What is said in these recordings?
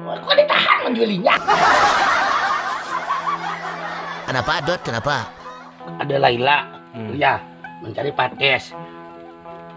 Kok ditahan menggilinya? Kenapa Dot? Kenapa? Ada Laila, hmm. ya mencari pates.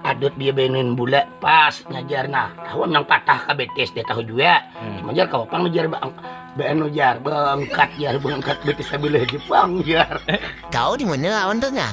Adot dia benin bula pas ngejar nah tahu nang patah ke betis dia tahu juga hmm. cuma jar kau pang ngejar bang beno jar bangkat jar bangkat betis sebelah Jepang jar kau di mana lawan tuh nah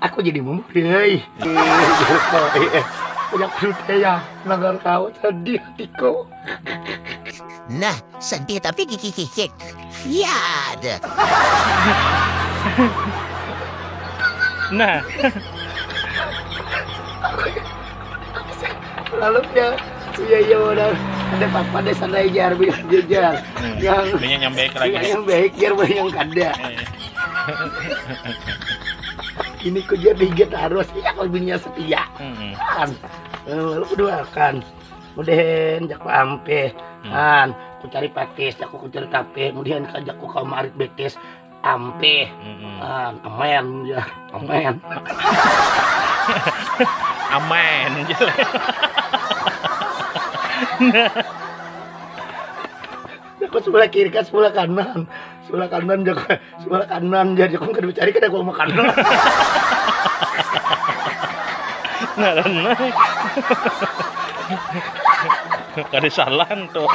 aku jadi bumbu deh banyak cerita ya nagar kau sedih hatiku nah sedih tapi gigi gigi ya ada nah lalu dia iya iya udah ada papa deh sana aja biar jajar yang banyak yang baik lagi yang baik biar banyak yang kada ini ku dia tiga terus iya kalau bininya setia hmm. kan lalu eh, kedua kan kemudian jaku ampe hmm. kan ku cari pakis jaku ku cari kape kemudian kan jaku kau marit betis ampe hmm. kan amen ya amen amen Aku sebelah kiri kan sebelah kanan Sebelah kanan jago, sebelah kanan jadi kau kada cari kada kau makan. Ngaran kada salah tuh.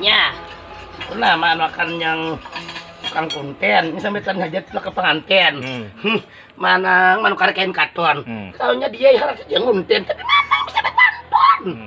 Nya, pernah makan yang tukang konten ini sampai tan hajat ke pengantin hmm. hmm. mana manukar kain katon hmm. tahunya dia harus dia nguntin tapi mana bisa berpantun hmm.